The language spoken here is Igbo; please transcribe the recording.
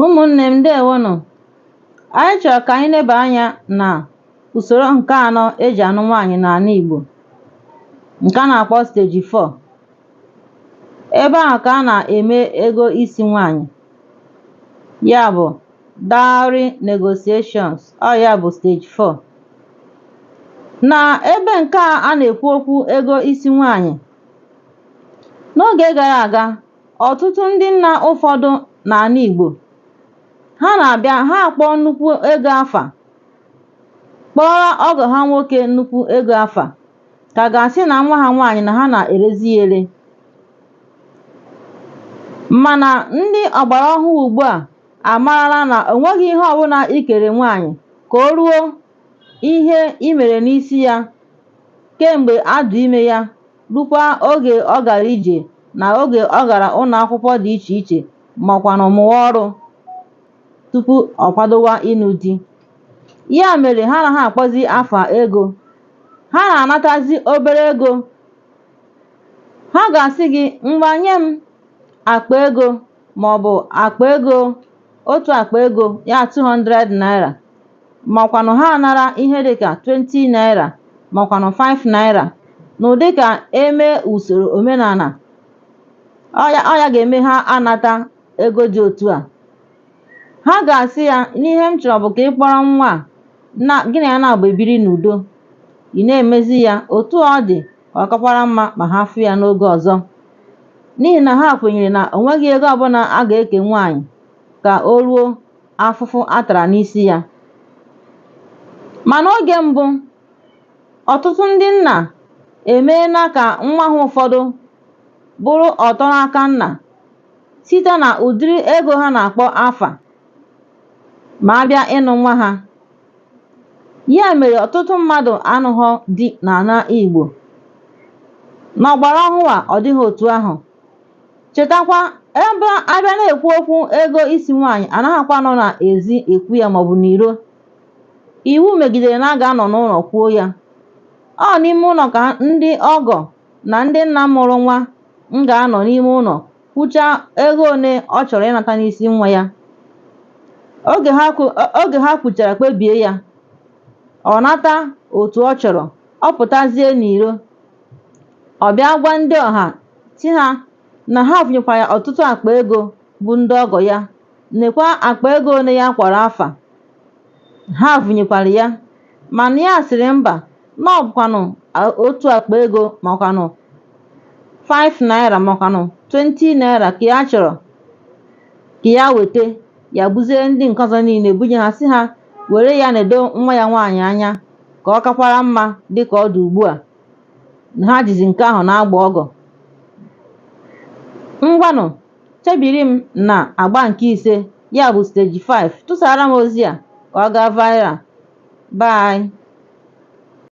ụmụnne m ndewonụ anyị chọrọ ka anyị neba anya na usoro nke anọ e ji anụ nwaanyị n'ana Igbo nke a na-akpọ stage 4 ebe ahụ ka a na-eme ego isi nwaanyị ya bụ dowry negotiations ọ ya bụ stage 4 na ebe nke a a na-ekwu okwu ego isi nwaanyị n'oge gara aga ọtụtụ ndị nna ụfọdụ n'ana Igbo ha na-abịa ha akpọọ nnukwu ego afa kpọọrọ ọgọ ha nwoke nnukwu ego afa ka a ga-asị na nwa ha nwaanyị na ha na-erezi ya ere mana ndị ọgbara ọhụụ ugbu a amarala na o nweghị ihe ọbụla i kere nwaanyị ka o ruo ihe i mere n'isi ya kemgbe a dụ ime ya rukwa oge ọ gara ije na oge ọ gara ụnọ akwụkwọ dị iche iche makwanụ mụwa ọrụ tupu ọ kwadowa ịnụ di. Ya mere ha anaghị akpọzi afa ego. Ha na-anatazi obere ego. Ha ga-asị gị ngwa nye m akpa ego maọbụ akpa ego otu akpa ego ya 200 naira makwanụ ha anara ihe dịka 20 naira makwanụ 5 naira n'ụdị ka e mee usoro omenana ọ ya ga-eme ha anata ego dị otu a ha ga-asị ya na ihe m chọrọ bụ ka ị kpọrọ nwa a gị na ya na-agba ebiri n'udo ị na-emezi ya otu ọ dị ọ kakwara mma ma ha fụ ya n'oge ọzọ n'ihi na ha kwenyere na o nweghị ego ọbụna a ga-eke nwaanyị ka o ruo afụfụ a tara n'isi ya ma n'oge mbụ ọtụtụ ndị nna emeena ka nwa ha ụfọdụ bụrụ ọtọ n'aka nna site na ụdịrị ego ha na-akpọ afa ma a bịa ịnụ nwa ha ya mere ọtụtụ mmadụ anụhọ di n'ana Igbo n'ọgbara ọhụụ a ọ dịghị otu ahụ chetakwa ebe a bịa na-ekwu okwu ego isi nwaanyị a naghịkwa anọ n'ezi ekwu ya maọbụ n'iro iwu megidere na a ga-anọ n'ụlọ kwuo ya ọ n'ime ụnọ ka ndị ọgọ na ndị nna mụrụ nwa m ga-anọ n'ime ụlọ kwuchaa ego one ọ chọrọ ịnata n'isi nwa ya oge ha kwuchara kpebie ya ọ nata otu ọ chọrọ ọ pụtazie n'iro ọ bịa gwa ndị ọha sị ha na ha vunyekwara ya ọtụtụ akpa ego bụ ndị ọgọ ya nekwa akpa ego one ya kpọrọ afa ha vunyekwara ya mana ya sịrị mba na ọ bụkwanụ otu akpa ego makwanụ 5 naira makwanụ 20 naira ka ya chọrọ ka ya weta ya buziere ndị nke ọzọ niile bunye ha sị ha were ya nedo nwa ya nwaanyị anya ka ọ kakwara mma dị ka ọ dị ugbu a ha jizi nke ahụ na-agba ọgọ ngwanụ Chebiri m n'agba nke ise, ya bụ stage 5. Tụsara m ozi a ka ọ gaa viral. Bye.